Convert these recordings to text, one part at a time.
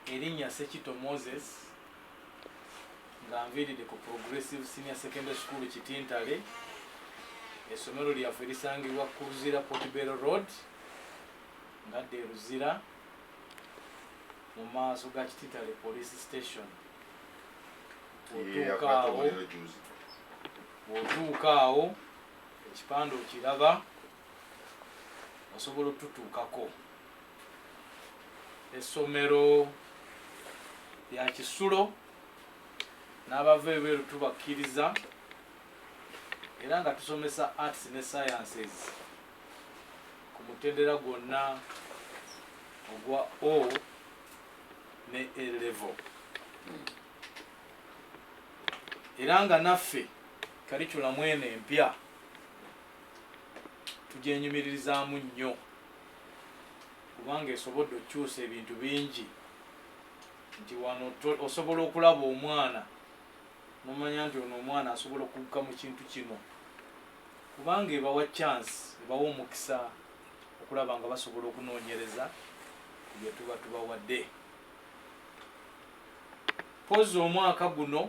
Erinnya Ssekitto Moses nga nviiridde ku Progressive Senior Secondary School Kitintale. Essomero lyaffe lisangibwa ku Luzira Portbell Road nga dde Luzira mu maaso ga Kitintale Police Station. Otuukaawo otuukaawo ekipande okiraba. osobola otutuukako essomero lya kisulo n'abava ebweru tubakkiriza era nga tusomesa arts ne sciences ku mutendera gwonna ogwa o ne a level era nga naffe kaliculamu eno empya tugyenyumiririzaamu nnyo kubanga esobodde okukyusa ebintu bingi nti wano osobola okulaba omwana nomanya nti ono omwana asobola okugga mu kintu kino kubanga ebawa chance ebawa omukisa okulaba nga basobola okunoonyereza byetuba tubawadde pozi omwaka guno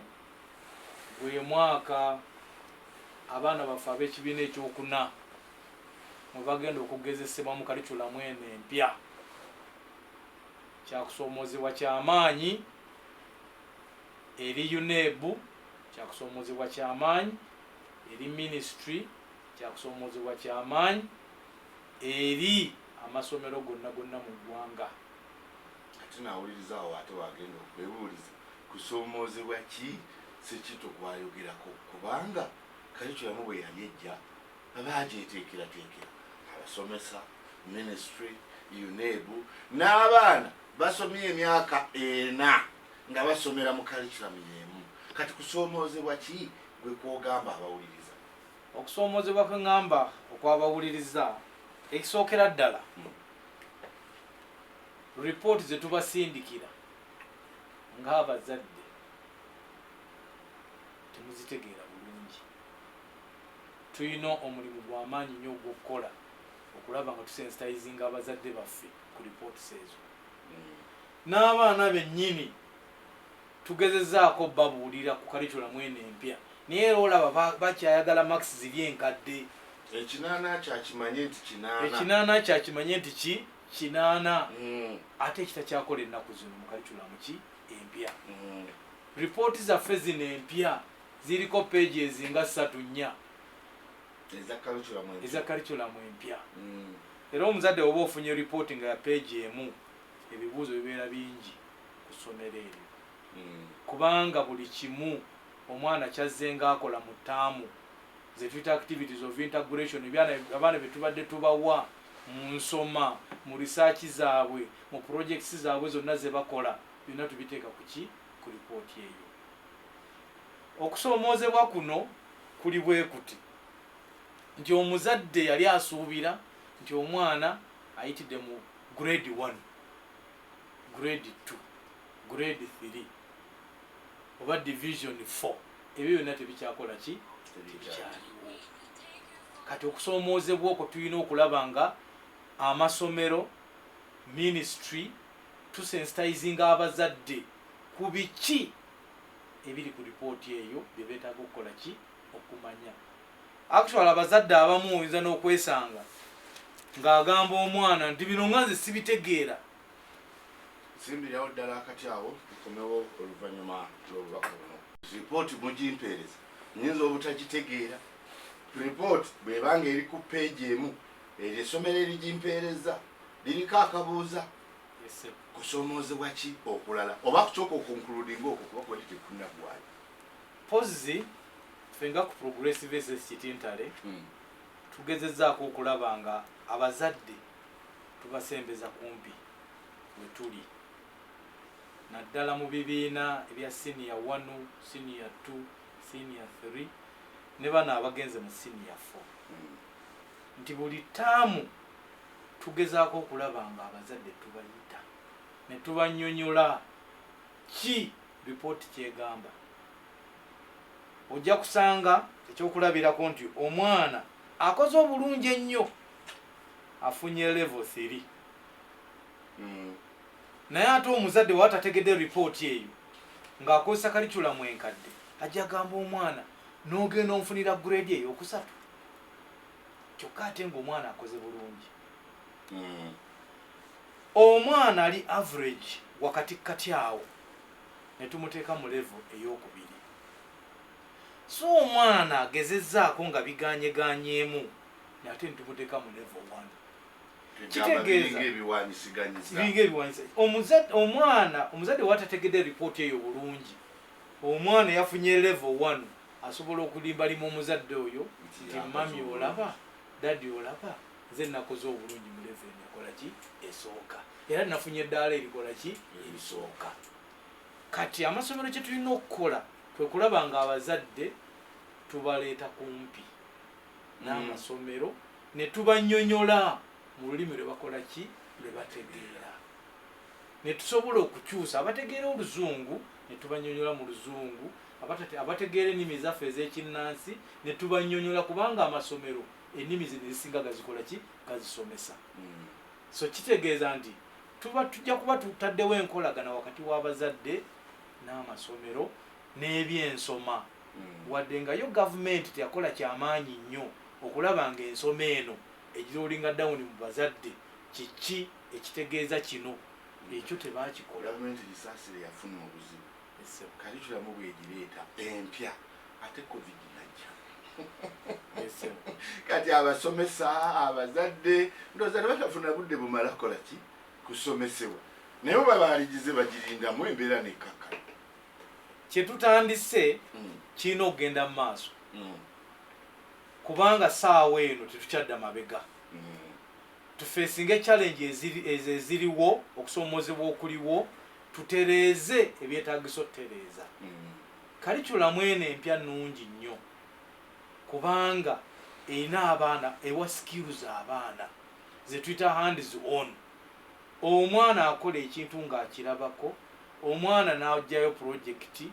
Gwe mwaka abaana baffe ab'ekibiina eky'okuna mwe bagenda okugezesebwa mu kaliculamu eno empya kya kusoomoozebwa kya maanyi eri UNEB, kya kusoomoozebwa kya maanyi eri minisitule, kya kusoomoozebwa kya maanyi eri amasomero gonna gonna mu ggwanga. Ate nawuliriza awo ate wagenda okwebuuliza kusoomoozebwa ki Ssekitto gwayogerako kubanga Curriculum bwe yali ejja baagyeteekerateekera abasomesa, Minisitule, UNEB n'abaana basomye emyaka ena nga basomera mu Curriculum y'emu kati kusoomoozebwa ki gwe kw'ogamba abawuliriza? Okusoomoozebwa kwe ngamba okw'abawuliriza ekisookera ddala Report zetubasindikira nga abazadde temuzitegeera bulungi. Tuyina omulimu gwamaanyi nyo ogwokukola okulaba nga tusensitizinga abazadde baffe ku reports ezo. N'abaana benyini tugezezaako obabuulira ku curriculum eno empya naye era olaba bakyayagala marks ziri enkadde. Ekinaana kyo akimanye nti kinaana. Ekinaana kyo akimanye nti ki? kinaana mm. ate ekita kyakola ennaku zino mukalikulamu ki empya mm. ripooti zaffe zino empya ziriko peegi ezinga ssatu nnya eza kalikulamu empya mm. era omuzadde oba ofunye ripooti nga ya peegi emu ebibuuzo bibeera bingi ku ssomero eryo mm. kubanga buli kimu omwana kyazze ngaakola mu taamu zetuyita activities of integration abaana betubadde tubawa mu nsoma, mu research zaabwe, mu projects zaabwe zonna zebakola byonna tubiteeka ku ki? Ku report eyo. Okusoomoozebwa kuno kuli bwekuti nti omuzadde yali asuubira nti omwana ayitidde mu grade one, grade two, grade three oba division four. ebyo byonna tebikyakola ki tebikyaliwo kati okusoomoozebwa okwo tulina okulaba nga amasomero ministry tusensitizinga abazadde ku biki ebiri ku lipooti eyo bye beetaaga okukola ki okumanya actual abazadde abamu oyinza n'okwesanga ng'agamba omwana nti bino nga nze sibitegeera Nsimbirawo ddala akati awo nkomewo oluvannyuma lw'obubaka buno. Lipooti mugimpeereza? Nnyinza obutagitegeera. Lipooti bw'eba ng'eri ku ppeegi emu, eryo essomero erigimpeerezza liriko akabuuza? Yes, sir. Kusoomoozebwa ki okulala oba ku ky'okukonkuludinga okwo kuba kwali tekunnaggwayo? Mpozzi ffe nga ku Progressive SS Kitintale tugezezzaako okulaba nga abazadde. Tubasembeza kumpi we tuli naddala mu bibiina ebya siniya wanu, siniya ttu, siniya ttiri ne bano abagenze mu siniya ffo nti buli ttaamu tugezaako okulaba nga abazadde tubayita ne tubanyonyola ki lipooti kyegamba ojja kusanga ekyokulabirako nti omwana akoze obulungi ennyo afunye level thiri mm. naye ate omuzadde waba tategedde ripooti eyo ng'akozesa kaliculamu enkadde ajja gamba omwana n'ogenda omufunira grade eyo okusatu kyokka ate ng'omwana akoze bulungi mm. omwana ali average wakati kati awo ne tumuteeka mu level ey'okubiri so omwana agezezaako nga biganyeganyeemu nate ntumuteka mu level one kitegeeza biringa ebiwanyisa omwana omuzadde watategedde ripooti eyo bulungi omwana yafunye level one asobola okulimbalima omuzadde oyo nti mami olaba dadi olaba nze nakoze obulungi mu level eno ekola ki esooka era nafunye eddaala erikola ki erisooka kati amasomero kyetulina okukola kwekulaba nga abazadde tubaleeta kumpi n'amasomero ne tubanyonyola mu lulimi lwe bakola ki lwe bategeera ne tusobola okukyusa abategeera oluzungu ne tubanyonyola mu luzungu abategeera ennimi ezaffe ez'ekinnansi ne tubanyonyola kubanga amasomero ennimi zino ezisinga gazikola ki gazisomesa hmm. so kitegeeza nti tuba tujja kuba tutaddewo enkolagana wakati w'abazadde n'amasomero n'ebyensoma wadde nga yo gavumenti teyakola kyamaanyi nnyo okulaba nga ensoma eno egirolinga dawuni mu bazadde kiki ekitegeeza kino ekyo tebakikola. Gavumenti Kisasira yafuna obuzibu kalikulamu bwegireeta empya ate covid najja kati abasomesa abazadde ndooza tebatafuna budde bumala kukola ki kusomesebwa naye oba baaligize bagirindamu embeera nekkakkana kyetutandise mm. kirina okugenda mu maaso mm. kubanga saawa eno tetukyadda mabega mm. tufeesinga echallenge ezo eziriwo okusoomozebwa okuliwo tutereeze ebyetagisa otutereeza kalikulamu eno empya nungi nnyo kubanga erina abaana ewa skills abaana zetuyita hands on omwana akola ekintu nga akirabako, omwana n'aggyayo pulojekiti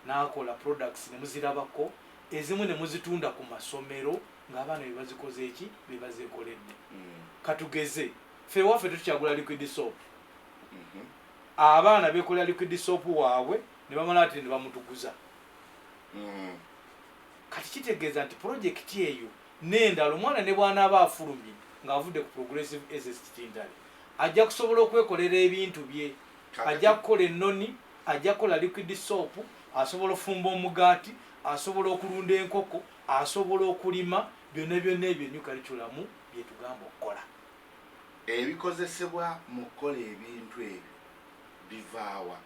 n'akola products ne muzirabako, ezimu ne muzitunda ku masomero ng'abaana be bazikoze ki? Be bazeekoledde. Ka tugeze, ffe ewaffe tetukyagula liquid soap. Abaana beekolera liquid soap waabwe ne bamala ate ne bamutuguza. Kati kitegeeza nti pulojekiti eyo n'endala omwana ne bw'anaaba afulumye ng'avudde ku Progressive Esest Tintale ajja kusobola okwekolera ebintu bye, ajja kukola ennoni, ajja kukola liquid soap, asobola ofumba omugaati, asobola okulunda enkoko, asobola okulima byonna byonna ebyo enyu kaliculamu by'etugamba okukola. Ebikozesebwa mu kukola ebintu ebyo bivaawa?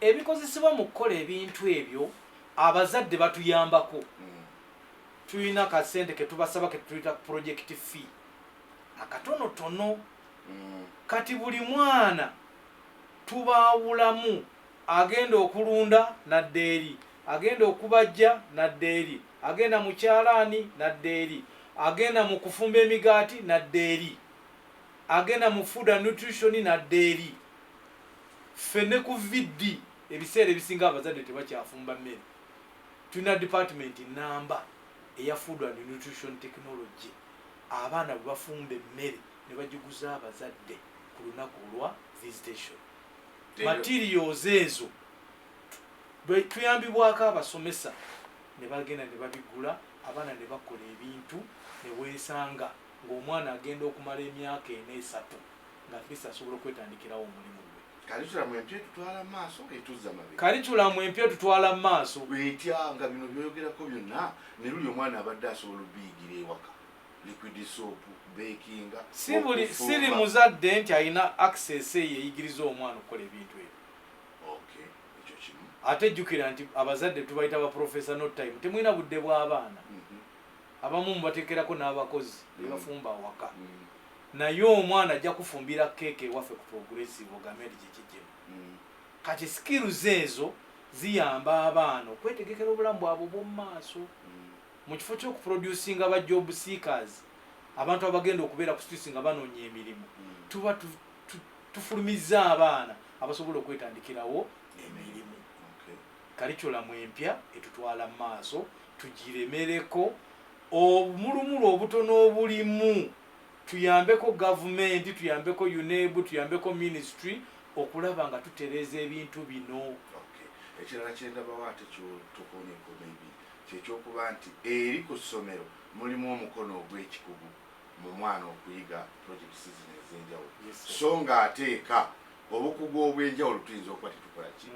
Ebikozesebwa mu kukola ebintu ebyo abazadde batuyambako tulina ka sente ketubasaba ketuyita project fee akatono tono mm. kati buli mwana tubaawulamu agenda okulunda nadda eri agenda okubajja nadda eri agenda mu kyalaani nadda eri agenda mu kufumba emigaati nadda eri agenda mu food and nutrition nadda eri ffe ne ku viddi ebiseera ebisinga abazadde tebakyafumba mmere Tulina department nnamba eya Food and Nutrition Technology abaana bwe bafumba emmere ne bagiguza abazadde ku lunaku olwa visitation. Materials ezo tuyambibwako abasomesa ne bagenda ne babigula abaana ne bakola ebintu ne weesanga ng'omwana agenda okumala emyaka ena esatu nga at least asobola okwetandikirawo omulimu gwe karitulamu empya etutwala maaso etuzza mabega karitulamu empya etutwala mu maaso etya nga bino byoyogerako byonna ne luli omwana abadde asobola obiyigira ewaka liquid soap bakinga sibuli siri muzadde nti alina access eyo eyigiriza omwana okukola ebintu ebyo okay ekyo kimu ate jjukira nti abazadde tubayita ba professor not time temulina budde bw'abaana mm -hmm. abamu mubateekerako n'abakozi mm. bebafumba awaka mm -hmm. Naye omwana ajja kufumbira cake ewaffe ku progressive ogamed jejijemu kati skills ezo ziyamba abaana okwetegekera obulamu bwabwe obwomumaaso mukifo kyoku producinga ba job seekers abantu abagenda okubeera ku streets nga banonya emirimu tuba tufulumizza abaana abasobola okwetandikirawo emirimu kaliculamu empya etutwala mu maaso tugiremereko obumulumulu obutono obulimu tuyambeko gavumenti, tuyambeko UNEB, tuyambeko minisitule okulaba nga tutereeza ebintu bino. Ekirala kye ndabawo ate kyotokoonyeko maybe kye kyokuba nti eri ku ssomero mulimu omukono ogw'ekikugu mu mwana okuyiga projects zino ez'enjawulo so nga ate eka obukugu obw'enjawulo tuyinza okuba tetukola ki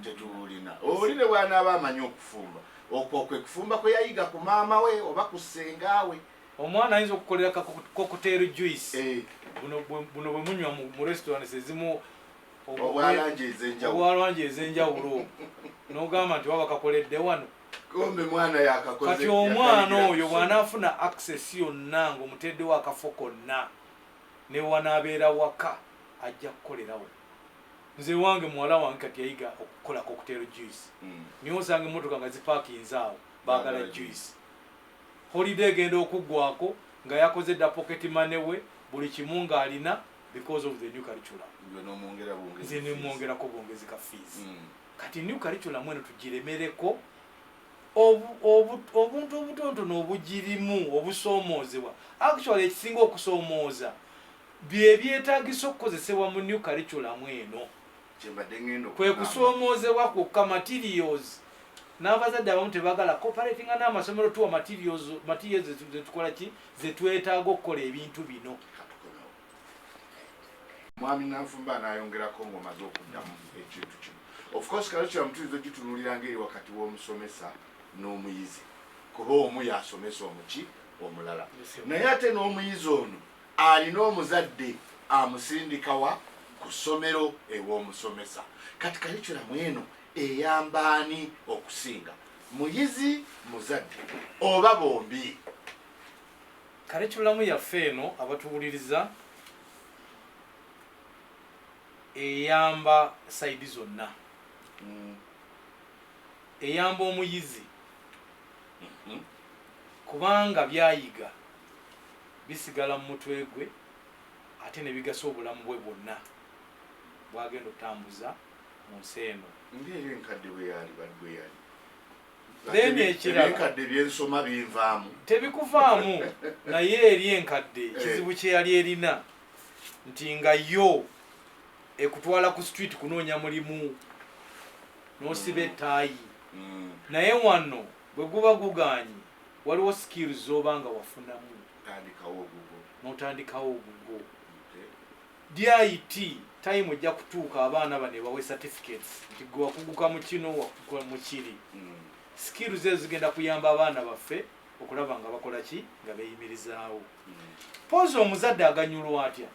tetubulina. Oli ne bwanaaba amanyi okufumba okwo kwe kufumba kwe yayiga ku maama we oba ku ssenga we Omwana ayinza okukolera ka cocktail juice. Eh. Buno buno bwe munywa mu restaurants ezimu obwalangi ezenjawulo. Obwalangi ezenjawulo. N'ogamba nti waba kakoledde wano. Kombe mwana yakakoze. Kati omwana oyo bw'anaafuna access yonna ng'omuteeddewo akafo konna ne wanaabeera waka ajja kukolerawo. Nze wange muwala wange kati yayiga okukola cocktail juice. Mm. Niyo osanga emmotoka nga zipaakinze awo baagala juice. Holiday egenda okugwako nga yakoze dda pocket money we buli kimu nga alina because of the new curriculum. Gwe nomwongera bwongezi Nze fees. nemwongerako bwongezi ka fees. Mm. Kati new curriculum eno tugiremereko obu, obu, obuntu obutontono obugirimu obusoomoozebwa. Actually ekisinga okusoomooza bye byetaagisa okukozesebwa mu new curriculum eno. kwe kusoomoozebwa kwokka materials n'abazadde abamu tebagala coperatinga n'amasomero tuwa materials materials zetukola ki zetwetaaga okukola ebintu bino mwami nanfumba anayongerako ngaomaze okuddamu ekintu kino of course kalikira mutuyinza ogitunulira ngaeri wakati w'omusomesa n'omuyizi kuba omu yasomesa omuki omulala naye ate n'omuyizi ono Alina omuzadde amusindikawa ku ssomero ew'omusomesa. Kati kalikyula mu eno eyamba ani okusinga, muyizi, muzadde oba bombi? Kalikyulamu yaffe eno abatuwuliriza eyamba sayidi zonna. Mm. Eyamba omuyizi mm -hmm. kubanga byayiga bisigala mu mutwe gwe ate ne bigasa obulamu bwe bwonna bw'agenda okutambuza mu nsi eno. Ng'eyo enkadde bwe yaali bwe yali then ekiralaenkadde byensoma binvaamu tebikuvaamu naye eri enkadde eh. kizibu kyeyali erina nti nga yo ekutwala ku street kunoonya mulimu nosiba ettaayi mm. mm. naye wano Bwe guba gugaanyi, waliwo skills z'oba nga wafunamu n'otandikawo ogugwo. DIT time ejja kutuuka abaana bano ebawe certificates nti gwe wakuguka mu kino, wakuguka mu kiri. Hmm. Skills ezo zigenda kuyamba abaana baffe okulaba nga bakola ki nga beeyimirizaawo. Hmm. Poozi omuzadde aganyulwa atya?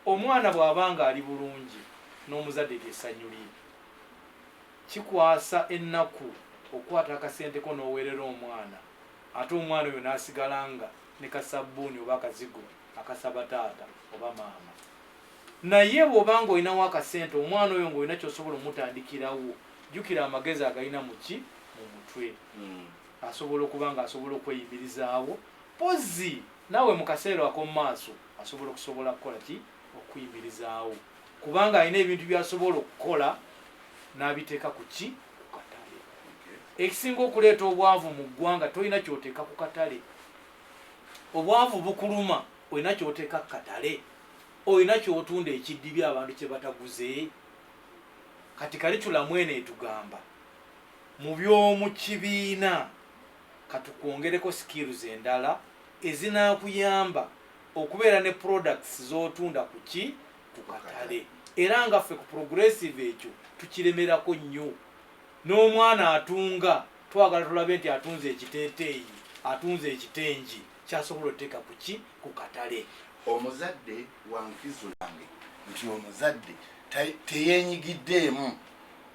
Omwana bw'aba ng'ali bulungi n'omuzadde ly'essanyu lye. Kikwasa ennaku okukwata akasente ko n'oweerera omwana ate omwana oyo n'asigala nga ne kassabbuuni oba akazigo akasaba taata oba maama. Naye bw'oba ng'olinawo akasente omwana oyo ng'olina ky'osobola omutandikirawo, jjukira amagezi agalina mu ki? Mu mutwe. Asobola okuba ng'asobola okweyimirizaawo mpozzi naawe mu kaseera akomu maaso asobola okusobola kukola ki? okuyimirizaawo kubanga alina ebintu byasobola okukola n'abiteeka ku ki ku katale ekisinga okuleeta obwavu mu ggwanga tolina kyoteeka ku katale obwavu bukuluma olina kyoteeka ku katale olina kyotunda ekiddibi abantu kye bataguze kati kalitulamu eno etugamba mu by'omu kibiina katukwongereko skills endala ezinakuyamba okubeera ne products z'otunda ku ki ku katale era nga ffe ku progressive ekyo tukiremerako nnyo n'omwana atunga twagala tulabe nti atunze ekiteeteeyi atunze ekitengi kyasobola oteeka ku ki ku katale omuzadde wankizo yange nti omuzadde teyenyigiddeemu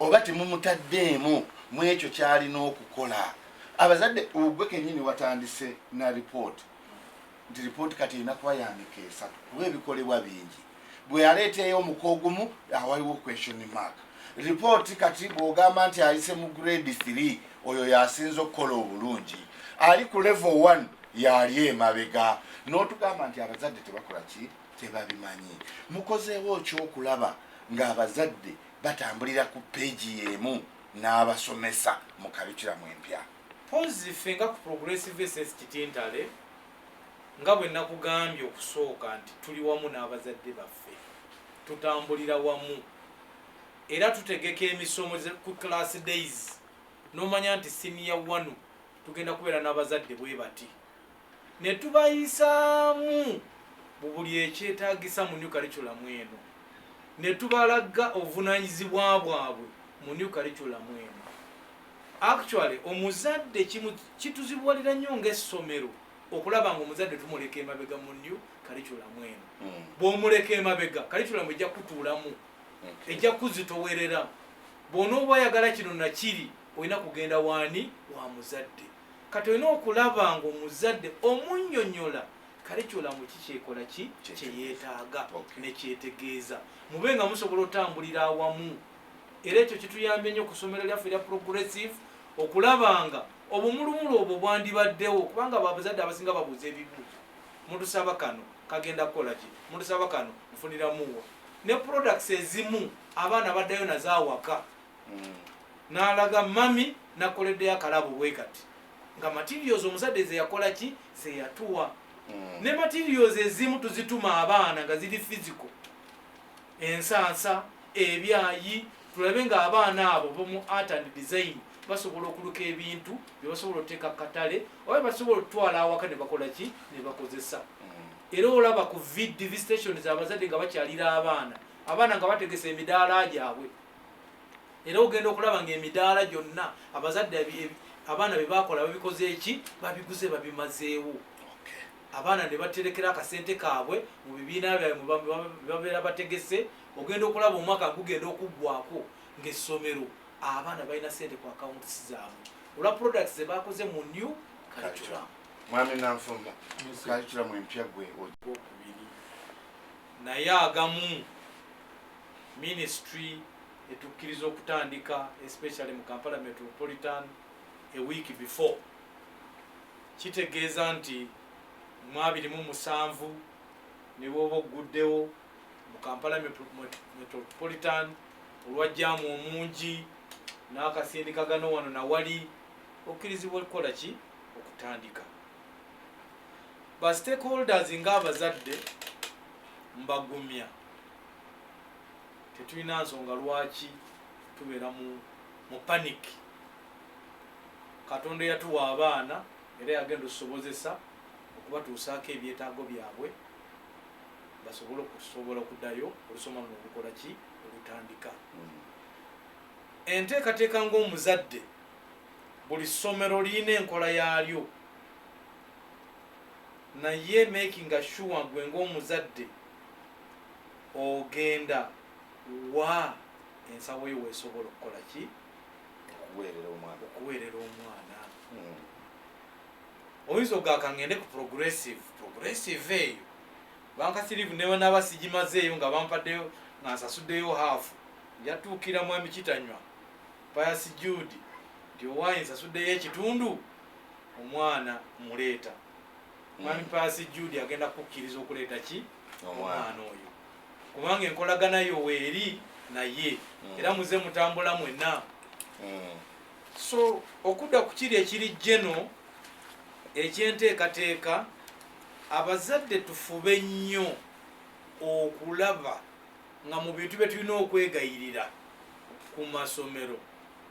oba temumutaddeemu mu ekyo kyalina okukola abazadde ogwe kenyini watandise na ripooti nti lipooti kati erina kuba ya mika esatu kuba ebikolebwa bingi bwe yaleeta ey'omuka ogumu awaliwo question mark lipooti kati bw'ogamba nti ayise mu grade 3 oyo yasinza okukola obulungi ali ku level 1 yaali emabega n'otugamba nti abazadde tebakola ki tebabimanyi mukozeewo okyokulaba ng'abazadde batambulira ku peegi y'emu n'abasomesa mu kalikiramu empya Mpozzi ffe nga ku Progressive SS Kitintale, nga bwe nakugambye okusooka nti tuli wamu n'abazadde baffe, tutambulira wamu era tutegeka emisomo ku class days n'omanya nti siniya wanu tugenda kubeera n'abazadde bwe bati. ne tubayisaamu mu buli ekyetaagisa mu New Curriculum eno ne tubalaga obuvunaanyizibwa bwabwe mu New Curriculum eno. Actually omuzadde kituzibuwalira nnyo ng'essomero okulaba ng'omuzadde tumuleka emabega mu New Curriculum eno. Hmm. Bw'omuleka emabega Curriculum ejja kutuulamu, ejja kuzitowerera. Bw'onooba oyagala kino na kiri olina kugenda waani wa muzadde. Kati olina okulaba nga omuzadde omunyonyola kalikyula mu ki kyekola ki kyeyetaaga nekyetegeeza mube nga musobola otambulira awamu era ekyo kituyambye nnyo ku somero lyaffe erya progressive okulaba nga obumulumulu obwo bwandibaddewo kubanga babuzadde abasinga babuuza ebibuuzo mutusaba kano kagenda kukola ki mutusaba kano nfuniramuwa ne products ezimu abaana baddayo nazo awaka mm. nalaga mami nakoleddeyo akalabo bwe kati nga materials omuzadde zeyakola ki zeyatuwa mm. ne materials ezimu tuzituma abaana nga ziri fiziko ensansa ebyayi tulabe nga abaana abo bomu art and design basobola okuluka ebintu byebasobola oteeka katale oba basobola okutwala awaka nebakola ki nebakozesa mm. era olaba ku vdv stations abazadde nga bakyalira abaana abaana nga bategesa emidaala gyabwe era ogenda okulaba ngaemidaala gyonna abazadde abaana bebakola babikoze eki babiguze babimazeewo abaana nebaterekera akasente kaabwe mu bibiina byabwe bebabeera bategese ogenda okulaba omwaka gugenda okuggwako ngaessomero abaana balina sente ku akawuntis zaabwe olwa products zebakoze mu new curriculum mwami nanfumba curriculum empya gwe naye agamu ministry etukkiriza okutandika especially mu kampala metropolitan a week before kitegeeza nti mu abiri mu musanvu ne bwoba ogguddewo mu kampala metropolitan olwajjamu omungi n'akasindikagano wano nawali okkirizibwa okukola ki okutandika ba stakeholders ng'abazadde mbagumya tetulina nsonga lwaki tubeera mu mu panic katonda eyatuwa abaana era yagenda osobozesa okubatuusaako ebyetaago byabwe basobole okusobola okuddayo olusoma luno olukola ki olutandika mm. enteekateeka ngaomuzadde buli ssomero lirina enkola yaalyo naye makinga sure gwe ngaomuzadde Ogenda wa? Ensawo yo w'esobola okukola ki? Okuweerera omwana. Okuweerera omwana. Hmm. Oyinza ogaka ngende ku progressive. Progressive eyo bankasirivu newenaba sigimazeeyo nga bampaddeyo nga nsasuddeyo haafu yatuukira mwami kitanywa payasi judi nti owaye nsasuddeyo ekitundu omwana muleeta mwami hmm. payasi judi agenda kukkiriza okuleeta ki omwana oyo kubanga enkolagana yo weeri naye mm. era muze mutambula mwena mm. so okudda ku kiri ekiri jeno ekyenteekateeka abazadde tufube nnyo okulaba nga mu bintu bye tulina okwegayirira ku masomero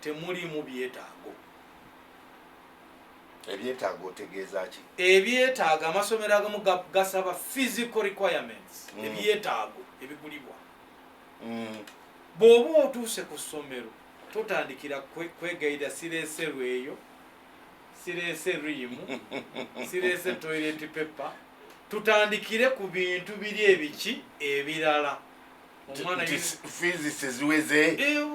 temuliimu byetaago ebyetaaga otegeeza ki ebyetaaga amasomero agamu gasaba physical requirements mm. ebyetaago ebigulibwa mm. bw'oba otuuse ku ssomero totandikira kwegayira sireese lweyo sireese riimu sireese toilet paper tutandikire ku bintu biri ebiki ebirala fiizi siziweze eh,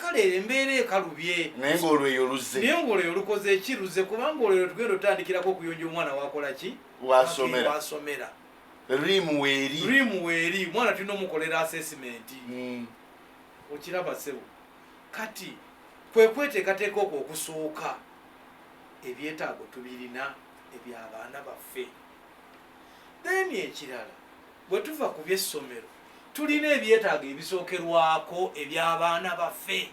kale embeera ekalubye naye ngaolweyo luzze naye ngaolweyo lukoze ki luzze kubanga olweyo tugenda otandikirako okuyonja omwana wakola ki wasomera rimu weeri rimu weeri omwana tulina omukolera asesimenti hmm. okiraba sebo kati kwekweteekateeka okwo okusooka ebyetaago tubirina ebyabaana baffe then ekirala Bwe tuva ku by'essomero, tulina ebyetaago ebisookerwako eby'abaana baffe.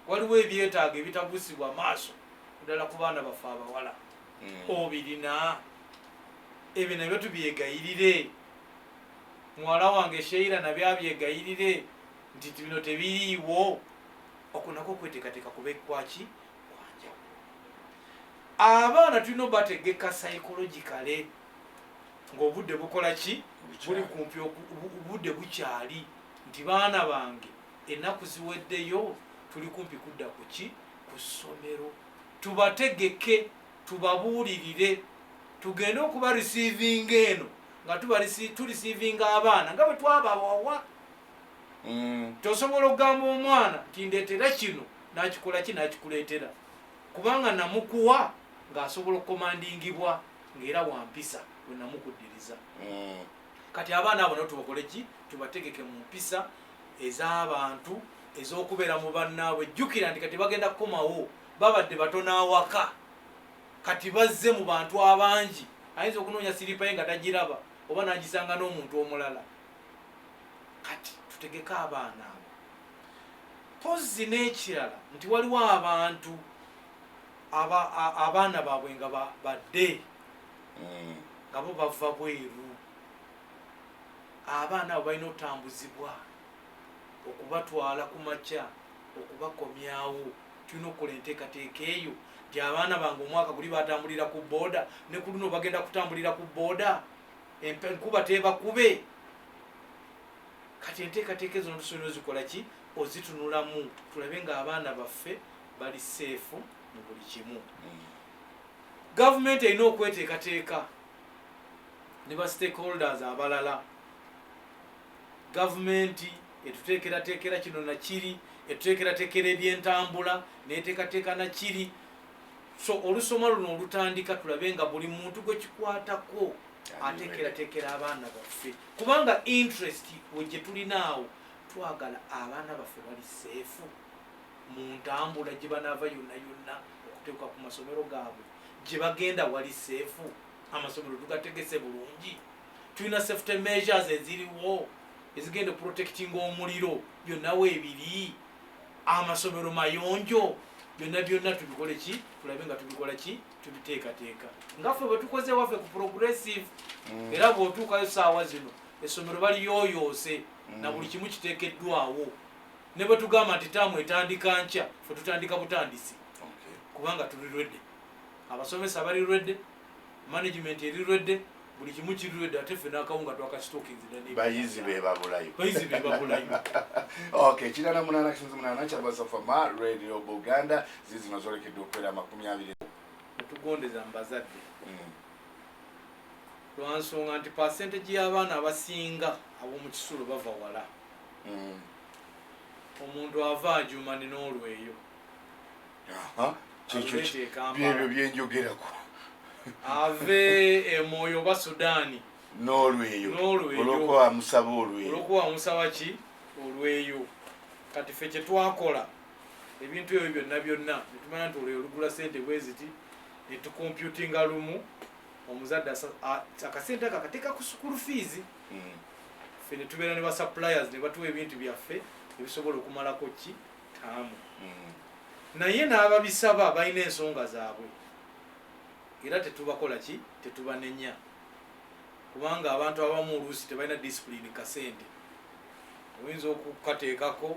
Waliwo ebyetaago ebitabuusibwa maaso ddala ku baana baffe abawala. Hmm. Obirina? Ebyo nabyo tubyegayirire. Muwala wange Sheila nabyo abyegayirire nti bino tebiriiwo. Okwo nakwo okweteekateeka kubekwaki? abaana tulina obategeka psychologicale ngaobudde bukola ki buli kumpi obudde bukyali nti baana bange ennaku ziweddeyo tuli kumpi kudda ku ki ku ssomero tubategeke tubabuulirire tugende okuba receivinga eno nga tureceivinga abaana nga bwe twabawawa mm. tosobola okugamba omwana nti ndeetera kino Nakikola ki? Nakikuleetera kubanga namukuwa ng'asobola okukomandingibwa ng'era wa mpisa bwe namukuddiriza. Mm. Kati abaana abo nabo tubakole ki? Tubategeke mu mpisa ez'abantu ez'okubeera mu bannaabwe. Jjukira nti kati bagenda kukomawo, babadde batono awaka, kati bazze mu bantu abangi. Ayinza okunoonya siripa ye nga tagiraba oba n'agisanga n'omuntu omulala. Kati tutegeke abaana abo. Mpozzi n'ekirala nti waliwo abantu aba, a, abaana baabwe nga ba, badde mm. nga bo bava bweru abaana abo balina otambuzibwa okubatwala ku makya okubakomyawo tulina okukola enteekateeka eyo nti abaana bange omwaka guli batambulira ku booda ne ku luno bagenda kutambulira ku booda enkuba teebakube kati enteekateeka ezo notusobera ozikola ki ozitunulamu tulabe nga abaana baffe bali seefu mu buli kimu mm. gavumenti erina okweteekateeka ne ba stakeholders abalala gavumenti etuteekerateekera kino nakiri etuteekerateekera ebyentambula neteekateeka nakiri so olusoma luno olutandika tulabe nga buli muntu gwekikwatako ateekerateekera abaana baffe Kubanga interest we gyetulina awo twagala abaana baffe bali seefu mu ntambula gye banaava yonna yonna okuteekwa ku masomero gaabwe gye bagenda wali seefu amasomero tugategese bulungi tulina safety measures eziriwo ezigenda protecting omuliro byonna weebiri amasomero mayonjo byonna byonna tubikole ki tulabe nga tubikola ki tubiteekateeka nga ffe bwe tukoze waffe ku progressive mm. era bw'otuukayo saawa zino essomero baliyooyoose mm. na buli kimu kiteekeddwawo ne bwe tugamba nti taamu etandika nkya fe tutandika butandisi kubanga tuli rwedde abasomesa bali rwedde management eri rwedde buli kimu kirudde ate ffe n'akawunga twakakitokinze bayizi be babulayo bayizi be babulayo ok kirana munana kisinzi munana kyabasafama radio buganda zizino zolekedde okubeera amakumi abiri tugondeza mu bazadde mm. lwansonga nti pasentage y'abaana abasinga ab'omu kisulo bava wala mm. omuntu ava ajumani n'olweyo byebyo byenjogerako ave emwoyo oba sudaani n'olweyo olwokuba amusaba olweyo olwokuba amusaba ki olweyo kati fe kyetwakola ebintu ebyo byonna byonna netumanya nti olweyo olugula sente bweziti netukomputinga lumu omuzadde akasente ako akateeka ku sukulu fiizi mm. fe netubeera ne basuppliers ne batuwa ebintu byaffe ebisobola okumalako ki taamu naye n'ababisaba balina ensonga zaabwe era tetubakola ki tetubanenya kubanga abantu abamu oluusi tebalina disipulini kasente oyinza okukateekako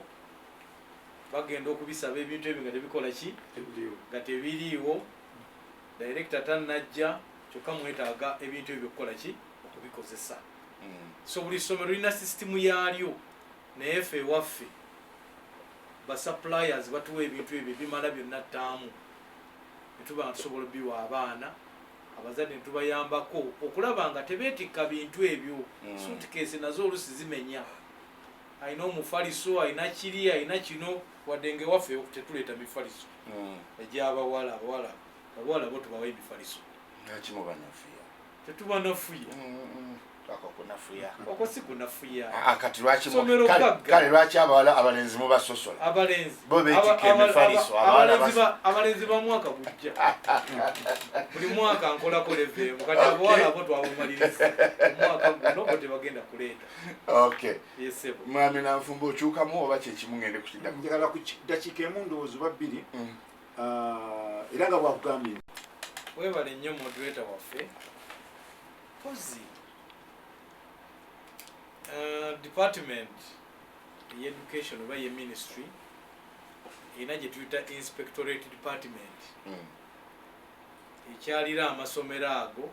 bagenda okubisaba ebintu ebyo nga tebikola ki nga tebiriiwo direkita tanajja kyokka mwetaaga ebintu ebyo okukola ki okubikozesa mm. so buli ssomero lirina sisitimu yaalyo Naye ffe ewaffe ba suppliers batuwa ebintu ebyo ebimala byonna ttaamu ne tuba nga tusobola biwa abaana abazadde ne tubayambako okulaba nga tebeetikka bintu ebyo mm. suitcase nazo olusi zimenya alina omufaliso alina kiri alina kino wadde nga ewaffe tetuleeta mifaliso mm. egyabawala abawala abawala bo tubawa emifaliso tetuba nafuya okwo si kunafuya ah, ah, kati lwakikale lwaki abawala abalenzi mubasosola abalenzi bo betika emifaliso abalenzi ba mwaka gujja buli mwaka nkolako levemu kati abawala abo twabumaliriza omwaka guno bo tebagenda kuleeta yesebo mwami nanfumba okyukamu oba kyekimu ngende kukidako njagala ku dakiika emu ndowooza oba bbiri mm. uh, era nga bwakugambye webale nnyo moderator waffe pozi uh, department ye education oba ye ministry erina gye tuyita inspectorate department mm. ekyalira amasomero ago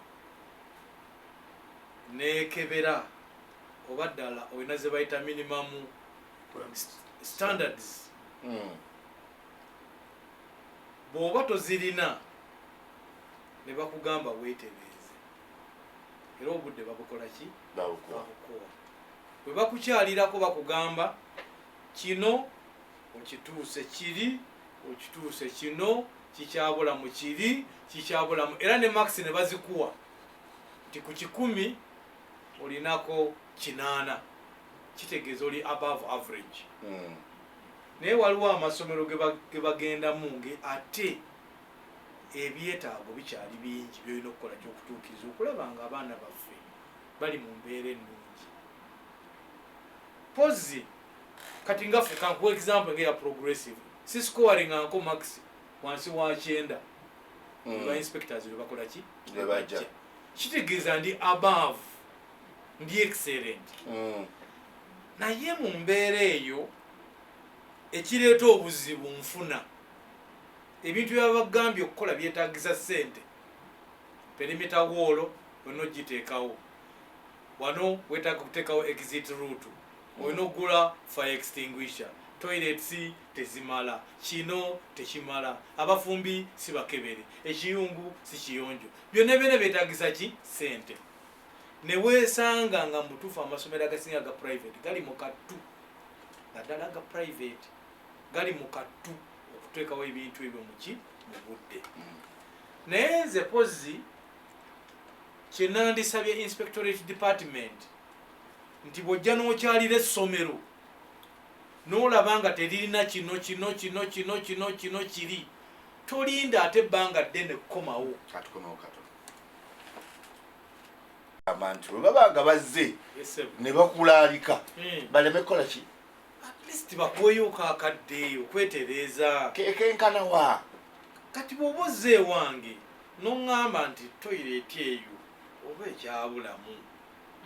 nekebera oba ddala olina zebayita minimamu standards mm. bw'oba tozirina ne bakugamba weetereeze era obudde babukola ki babukuwa bwe bakukyalirako bakugamba kino okituuse kiri okituuse kino kikyabula mu kiri kikyabulamu era ne makisi ne bazikuwa nti ku kikumi olinako kinaana kitegeeza oli above average mm. Naye waliwo amasomero ge bagendamu ng'ate ebyetaago bikyali bingi by'olina okukola ky'okutuukiriza okulaba ng'abaana baffe bali mu mbeera ennungi pozzi kati nga ffe kankuwa example ng'eya progressive si scowaring'anko max wansi wa kyenda mm. ba inspectors lwe bakola ki lwe bajja kitegeeza ndi above ndi excellent mm. naye mu mbeera eyo ekireeta obuzibu nfuna ebintu byabagambye okukola byetagisa sente perimita woolo olina ogiteekawo wano wetaaga okuteekawo exit route olina okugula fire extinguisher toilets tezimala kino tekimala abafumbi sibakebere ekiyungu sikiyonjo byonna byona byetagisa ki sente newesanga nga mubutuufu amasomero agasinga aga private gali mu kattu naddala aga private gali mu kattu okuteekawo ebintu ebyo muki mu budde naye nze pozzi kyenandisabye inspectorate department nti bwojja nokyalira essomero nolaba nga teririna kino kino kino kino kino kino kiri tolinda ate ebbanga ddene kukomawo abantu bwe baba nga bazze ne bakulaalika hmm. baleme kukola ki atleast bakuweyo kakaddeeyo kwetereeza kekenkana wa kati bwoba ozze ewange noŋŋamba nti toyireeti eyo oba ekyabulamu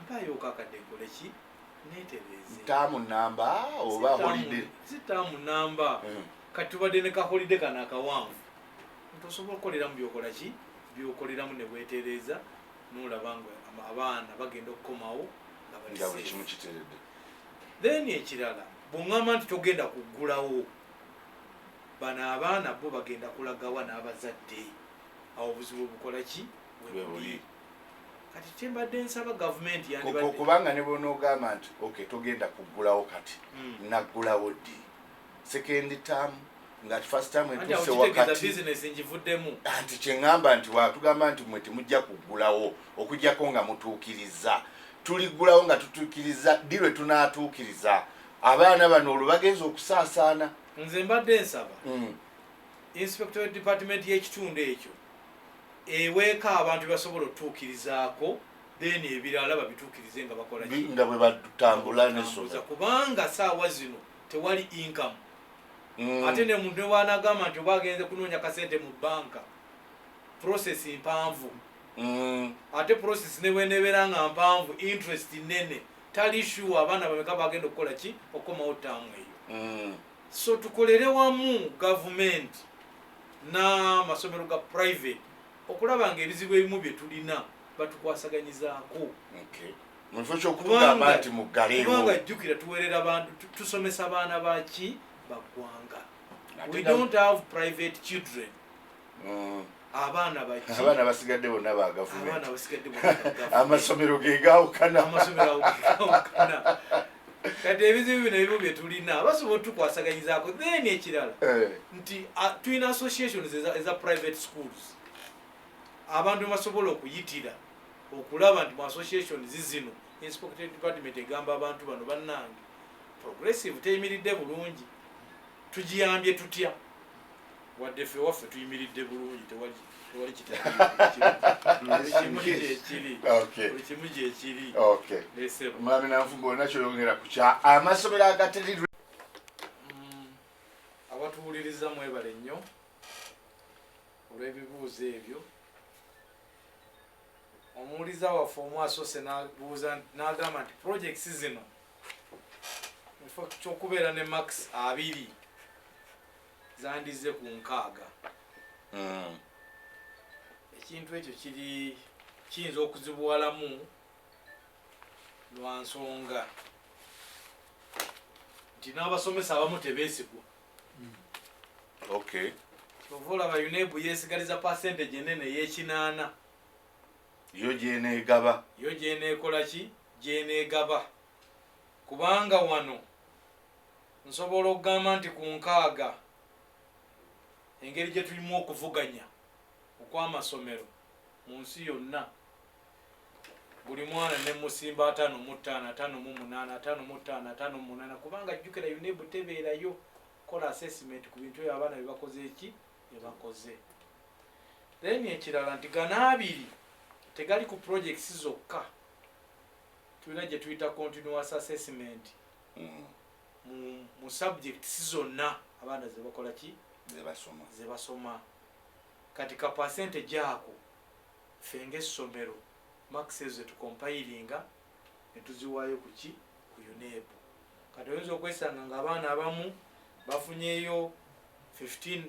mpaayo kakadde nkole ki netereeze taamu namba oba holide si taamu namba hmm. kati tubadde ne kaholide kano akawanvu nti osobola okukoleramu byokola ki byokoleramu newetereeza nolaba nga abaana bagenda okukomawo nga buli kimu kiteredde then ekirala bwongamba nti togenda kuggulawo bano abaana bo bagenda kulagawa n'abazadde awo obuzibu obukola ki webuli kati kyembadde nsaba gavumenti yandibadde kubanga ne bwonoogamba nti okay togenda kuggulawo kati hmm. naggulawo ddi second term nga first time etuuse wakati anti kyeŋŋamba nti watugamba nti mwe temujja kuggulawo okugyako nga mutuukiriza tuliggulawo nga tutuukiriza ddi lwe tunaatuukiriza abaana bano olwo bagenza okusaasaana nze mbadde nsaba mm. inspector we department y'ekitundu ekyo eweeka abantu basobola otutuukirizaako then ebirala babituukirize nga bakola nga bwe batambula nesoza kubanga saawa zino tewali income mm. ate ne muntu newanagamba nti oba agenze kunoonya kasente mu banka process mpanvu mm. ate process newenebeera nga mpanvu interest nene tali sure abaana bameka bagenda okukola ki okukomawo taamu eyo mm. so tukolere wamu gavumenti n'amasomero ga private okulaba nga ebizibu ebimu bye tulina batukwasaganyizaako okay. mukifo kyokutugamba nti muggalekubanga jjukira tuwerera bantu tusomesa baana baki baggwanga we don't have private children mm. abaana abaana basigadde bonna bagavumenti amasomero gegawukana kati ebizibu bino ebimu byetulina basobola otukwasaganyizaako then ekirala eh. nti tulina associations eza private schools abantu bebasobola okuyitira okulaba nti mu association zizino inspected department egamba abantu bano bannange progressive teyimiridde bulungi tugiyambye tutya wadde ffe waffe tuyimiridde bulungi tewali tewali kitakimu gyekiri buli kimu gyekiri mwami nanfuga olina kyoyongera ku kya amasomero agateri mm, abatuwuliriza mwebale nnyo olw'ebibuuzo ebyo omuwuliza waffe omu asoose nabuuza nagamba nti projects zino infact kyokubeera ne max abiri zandizze ku nkaaga hmm. ekintu ekyo kiri kiyinza okuzibuwalamu lwa nsonga nti n'abasomesa abamu tebeesigwa okay kyova olaba unebu yesigaliza percentage enene eyekinaana yo gyenegaba yo gyenekola ki gyenegaba kubanga wano nsobola okugamba nti ku nkaaga engeri gye tulimu okuvuganya okwamasomero mu nsi yonna buli mwana ne musimba atano mu ttaano atano mu munaana atano mu ttaano atano mu munaana kubanga jjukira unebu tebeerayo kola assessment ku bintu ebyo abaana bebakoze eki bebakoze then ekirala nti gana abiri tegali ku projects zokka tulina gye tuyita continuous assessment mm. mu subjects zonna abaana zebakola ki zebasoma kati ka percentage ako Ffe ng'essomero, marks ezo ze tukompayiringa ne tuziwaayo ku ki? Ku UNEB. Kati oyinza okwesanga ng'abaana abamu bafunyeyo fifteen,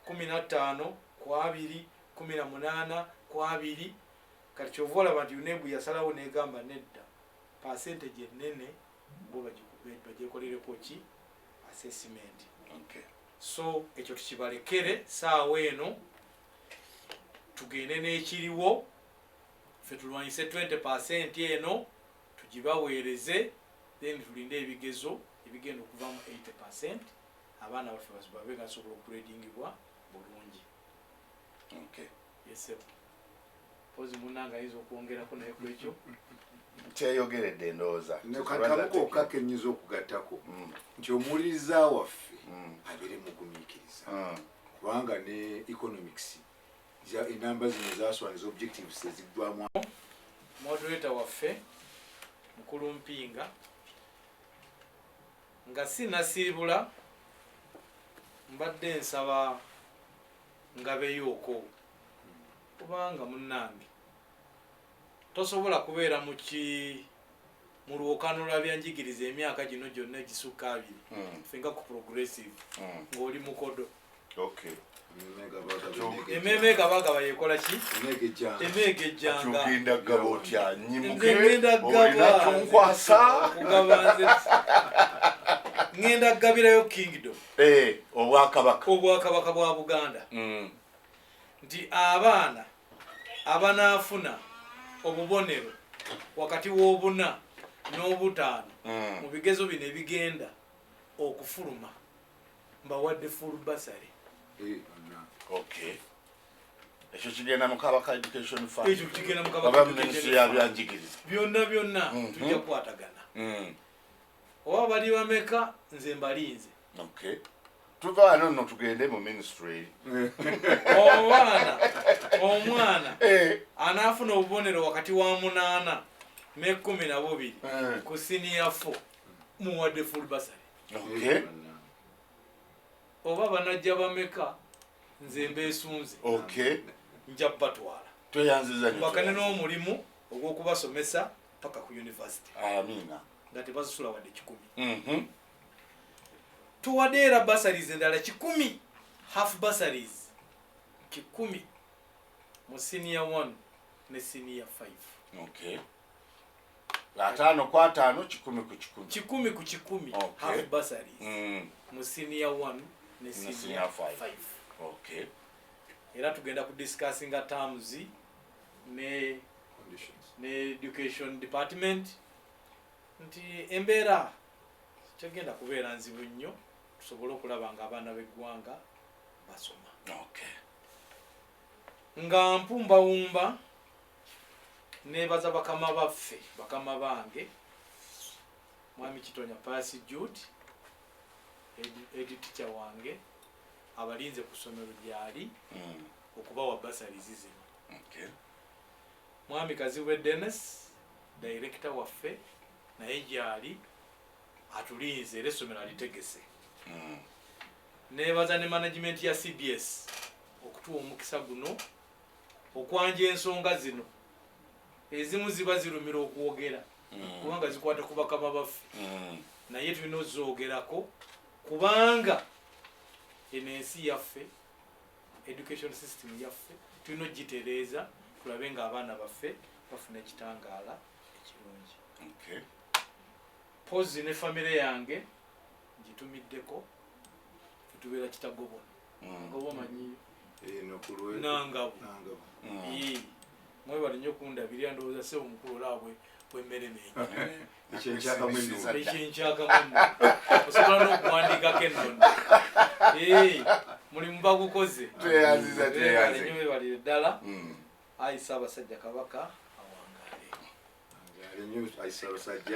kkumi na ttaano ku abiri, kkumi na munaana ku abiri. Kati ky'ova olaba nti UNEB yasalawo n'egamba nedda, percentage ennene bo bagikube, bagyekolereko ki? Assessment. So ekyo tukibalekere ssaawa eno. tugende n'ekiriwo ffe tulwanyise 20 percent eno tugibaweereze then tulinde ebigezo ebigenda okuva mu 80 percent abaana baffe babe nga basobola okuredingibwa bulungi okay. yes, mpozi munange ayinza okwongerako naye kwekyo kyeyogeredde ndowooza kamu kokka kenyinza okugattako mm. nti omuwuliriza waffe mm. abeere mugumiikiriza mm. kubanga ne economics enamba zino zaswana ezobjectives eziggwamu moderator waffe mukulu mpinga nga sinasiibula mbadde nsaba ngabeyoko kubanga munange tosobola kubeera muki mulwokanula byanjigiriza emyaka gino gyonna egisukka abiri hmm. fenga ku progressive hmm. ng'oli mukodo emeeme gabagaba yekola ki emeega ejjangagenda gaba otya nyimukeolinakyonkwasakugabanze ŋenda kugabirayo kingdom eh, obwakabaka obwakabaka bwa buganda mm. nti abaana abanaafuna obubonero wakati w'obuna n'obutaano mm. mu bigezo bino ebigenda okufuluma mbawadde full basary eh, okay ekyo kigenda mukabaka education fundminsi yabyanjigiriza byonna byonna mm-hmm. tujja kukwatagana mm. oba bali bameka nze mbalinze okay tuva wano no tugende mu ministry omwana omwana eh. anaafuna obubonero wakati wa munaana n'ekkumi na bubiri eh. ku siniya fo muwadde full basary oba banajja bameka nze mbeesunze nja batwala tweyanziza bakane n'omulimu ogw'okubasomesa paka ku university amina nga tebazisula wadde kikumi mhm. tuwadde era basaries endala kikumi half basaries kikumi mu senior one ne senior five okay. ataano ku ataano kikumi ku kikumi kikumi ku kikumi okay. half basaries mm. mu senior one ne senior five, five. Okay. era tugenda ku discussinga terms ne, ne education department nti embeera tegenda kubeera nzibu nnyo tusobole okulaba nga abaana b'eggwanga basoma nga mpumbawumba nebaza bakama baffe bakama bange mwami kitonya pasi jude editicha wange abalinze ku ssomero gyali hmm. okubawa basalizi zino mwami kazibwe dennis Director waffe naye gyali atulinze era essomero alitegese mm. nebaza ne management ya cbs okutuwa omukisa guno okwanja ensonga zino ezimu ziba zirumira okwogera mm. kubanga zikwata ku bakama baffe mm. naye tulina ozoogerako kubanga eno ensi yaffe Education system yaffe tulina ogitereeza tulabe nga abaana baffe bafuna ekitangaala ekirungi. Okay. Pozi ne famire yange ngitumiddeko tubeera kitagobwa mm. ngoba omanyi eh, nangabo mm. Mwebale nyo kundabirira ndowooza sebo mukulu olaba bwe bwemmere menyo ekyo nkyakamu enno ekyo nkyakamu enno osobola n'okuwandiikako ennono mulimu bagukoze tweyaziza tweyazi nyo webalire ddala mm. ayi ssaabasajja kabaka awangaale awangaale nyo ayi ssaabasajja